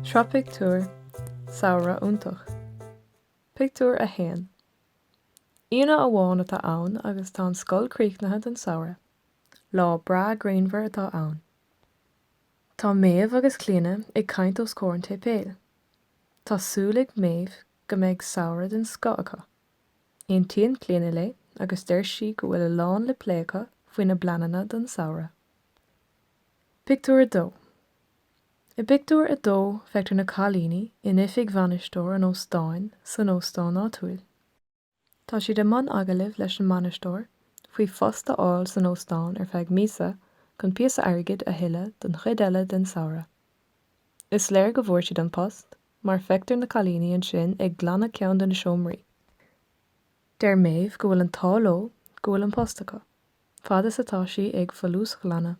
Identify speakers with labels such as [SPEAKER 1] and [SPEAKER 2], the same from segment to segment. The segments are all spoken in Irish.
[SPEAKER 1] Sraith Pictiúr, Samhradh iontach. Pictiúr 1 Aoine amháin atá ann agus tá an scoil críochnaithe don samhradh. Lá breá grianmhar atá ann. Tá Méabh agus Clíodhna ag caint os comhair an tséipéil. Tá súil ag Méabh go mbeidh samhradh den scoth acu. Aontaíonn Clíodhna léi agus deir sí go bhfuil a lán le plé acu faoi na pleananna don samhradh. Pictiúr 2 I bpictiúr a dó feictear na cailíní in oifig bhainisteoir an óstáin san óstán áitiúil. Tá siad i mbun agallaimh leis an mbainisteoir faoi phost a fháil san óstán ar feadh míosa chun píosa airgid a thuilleadh don chuid eile den samhradh. Is léir go bhfuair siad an post. mar feictear na cailíní ansin ag glanadh ceann de na seomraí. Deir Méabh go bhfuil an t-ádh leo go bhfuil an post acu, fad is atá sí ag folúsghlanadh.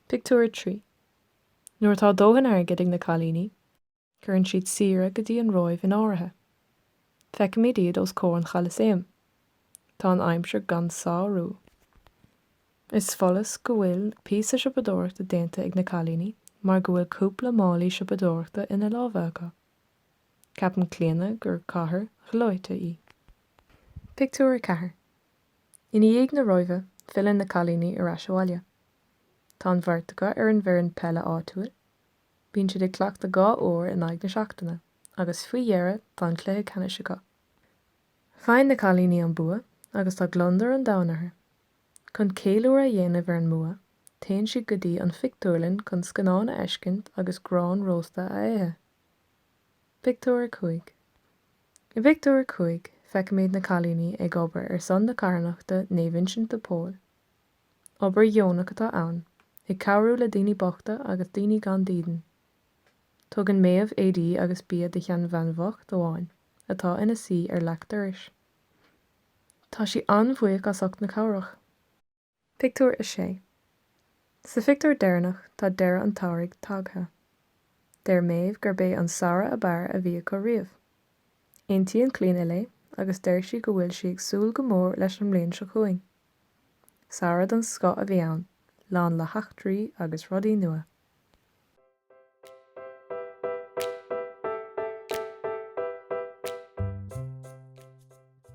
[SPEAKER 1] Pictiúr a trí. Nuair atá dóthain airgid ag na cailíní, cuireann siad saoire go dtí an Róimh in áirithe. Feicimid iad os comhair an Cholasaem. Tá an aimsir gan sárú. Is follas go bhfuil píosa siopadóireachta déanta ag na cailíní mar go bhfuil cúpla málaí siopadóireachta ina lámha acu. Ceapann Clíodhna gur cathair ghleoite í. Pictiúr 4 I ndiaidh na Róimhe, filleann na cailíní ar ais abhaile. Tá an bheirt acu ar an bhfoireann peile áitiúil. Bíonn siad ag cleachtadh dhá uair in aghaidh na seachtaine agus faoi dheireadh tá an cluiche ceannais acu. Faigheann na cailíní an bua agus tá gliondar an domhain orthu. Chun ceiliúradh a dhéanamh ar an mbua, téann siad go dtí an phictiúrlann chun scannán a fheiscint agus grán rósta a ithe. Pictiúr 5 I bpictiúr a cúig, feicimid na cailíní ag obair ar son na carthanachta Naomh Uinseann de Pól. Obair dheonach atá ann, ag cabhrú le daoine bochta agus daoine gan dídean. Tugann Méabh éadaí agus bia do sheanbhean bhocht amháin atá ina suí ar leac dorais. Tá sí an-bhuíoch as ucht na cabhrach. Pictiúr 6 Sa phictiúr deireanach tá deireadh an tsamhraidh tagtha. Deir Méabh gurb é an samhradh ab fhearr a bhí acu riamh. Aontaíonn Clíodhna léi agus deir sí go bhfuil sí ag súil go mór leis an mbliain seo chugainn. Samhradh den scoth a bhí ann, lán le heachtraí agus rudaí nua.